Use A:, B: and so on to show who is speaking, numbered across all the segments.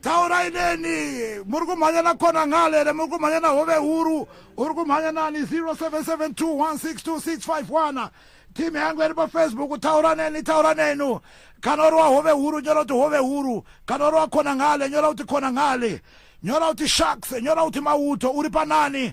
A: taurai neni muri kumhanya na kona ngale here muri kumhanya na hove huru uri kumhanya nani 0772162651 timu yangu iri pafacebook taura neni taura nenu kana uri wahove huru nyora kuti hove huru kana uri wakona ngale nyora kuti kona ngale nyora kuti sharks nyora kuti mauto uri panani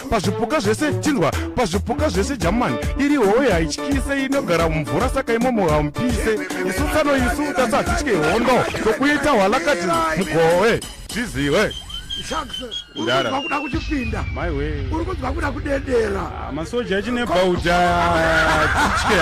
B: pazvipuka zvese chinzwa pazvipuka zvese jamani iri howe haityise inogara mumvura saka imomo hamupise isu tsano isu tasa hadzitye hondo tokuita hwalakati mugowe zviziwe
A: ndakuda
C: kuchipinda
A: uri
C: kunzwa kuda
A: kudedera ah, masoja
C: echinebauja titye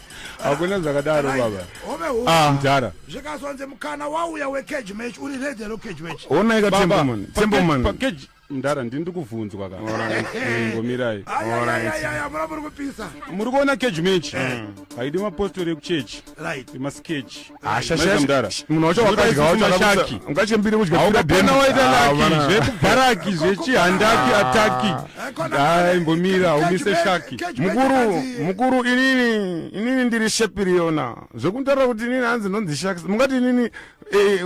A: hakuna
C: zvakadaro baba ah. mdhara
A: zvikazonzi mukana wauya wecage match uri redi hero cage match onaika temboman
B: temboman mdara
C: ndini ndikuvhunzwa ka ngomirai
A: muri kuona cage
C: match eh. haidi mapostori ekuchechi emasketch
B: munhu wacho wakadya wacho akashaki ungachembire kudya pira deni waita
C: laki zvekubaraki zvechihandaki ah. ataki dai mbomira umise shaki mukuru mukuru
B: inini inini ndiri shepiriona zvekundara kuti inini hanzi ndonzi shaki mungati inini eh,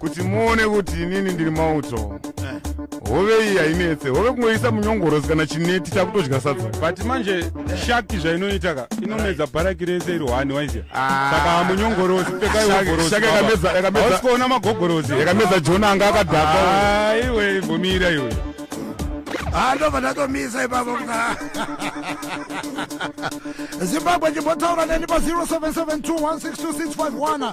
B: kuti muone kuti inini ndiri mauto hove iyi hainetse hove kungoisa munyongorosi kana chineti takutodya sadza but manje
C: shaki zvainoita ka inomedza bharaki rese iri hwani waizia ah. saka munyongorosi pekaiogorosiausikuona magogorosi yakamedza jona anga
B: akadhaka ah, iwe ibvumira
C: iwe ah,
A: ndobva ndatomisa ipapo zimbabwe ndimbotaura neni pa 0772162651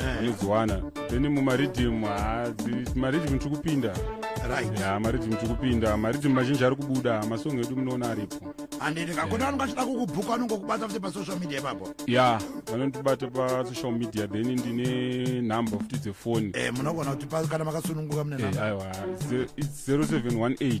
C: Eh. anodziwana then mumaridhim maridhim tiri kupinda ya maridhim tiri kupinda maridhim mazhinji ari kubuda masong edu munoona aripo andindikakona anonga
A: achida kukubhuka anonga kubata futi pasocial media ipapo ya vanondibata
C: pasocial media then ndine number futi dzefoni eh, munogona kuti kana
A: makasununguka mune eh, number aiwa
C: 0718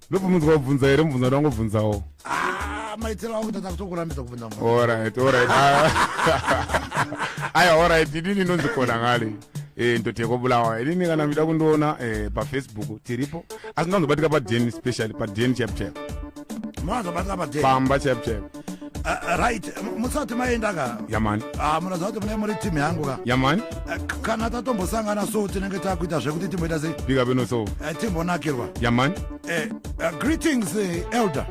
A: ndobvunzwa kubvunza
B: here mubvunza ndangobvunzawo ah, maitiro
A: angu tata kutokurambidza kubvunza orit orit
B: aya orit idini ndonzi kona ngale eh, ndoti yekobulawa idini kana mida kundiona eh, pafacebook tiripo asi ndanzobatika paden specially paden chapchap
A: pamba chapchap
B: Uh, right
A: musati maenda ka yamani ah, uh, munoziva
B: kuti mune muri
A: team yangu ka yamani uh, eh,
B: kana
A: tatombosangana so tinenge takuita zvekuti timboita sei bika beno so uh, eh,
B: timbonakirwa
A: yamani uh,
B: eh, uh, greetings
A: uh, elder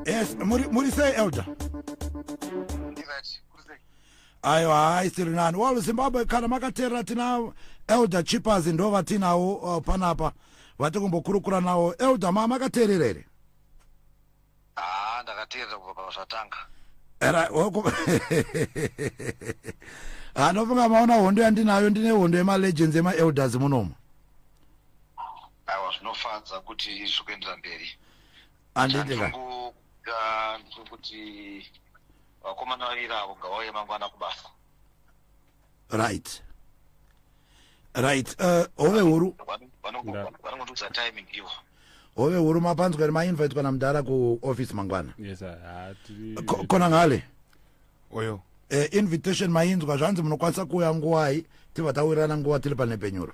A: yes muri, muri sei elder ayo haaisiri nani well zimbabwe kana makateerera tina elder chippers ndo vatinawo uh, panapa vati kumbokurukura nawo elder ma makateerera here haa
D: ndakateerera kubva pazvatanga era oko
A: anofunga maona hondo yandinayo ndine hondo yemalegends emaelders munomo
D: aiwa zvinofadza kuti izvi kuendera mberi anditi
A: kuti
D: vakomana
A: vaviri avo ngavauye mangwana kubasa right right uh, hove huru vanongotiudza
D: timing ivo hove huru
A: mapanzwa here mainvite kana mudhara kuoffice mangwana yes,
C: kona
A: ngale
B: oyo uh, invitation
A: mainzwa zvanzi munokwanisa kuuya nguwai tibva tawirirana nguva tiri panepenyuro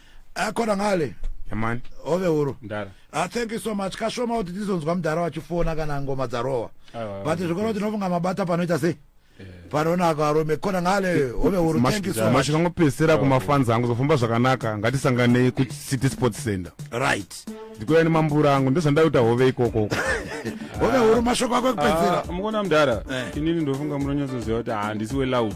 A: akona ngale yamani
B: ove huru mdara
A: ah, thank you
C: so much
A: kashoma kuti tizonzwa mdara wachifona kana ngoma dzarowa but zvikona kuti nofunga mabata panoita sei eh. panonaka arume kona ngale hove huru thank you so much makangopesera kumafans
B: angu zofamba zvakanaka ngatisanganei kucity sports center right
A: ndikuya nemambura
B: angu ndozvandaita hove ikoko hove
A: huru mashoko ako ekupedzera ah, mukona mdara
C: eh. inini ndofunga munonyatsoziva kuti handisi weloud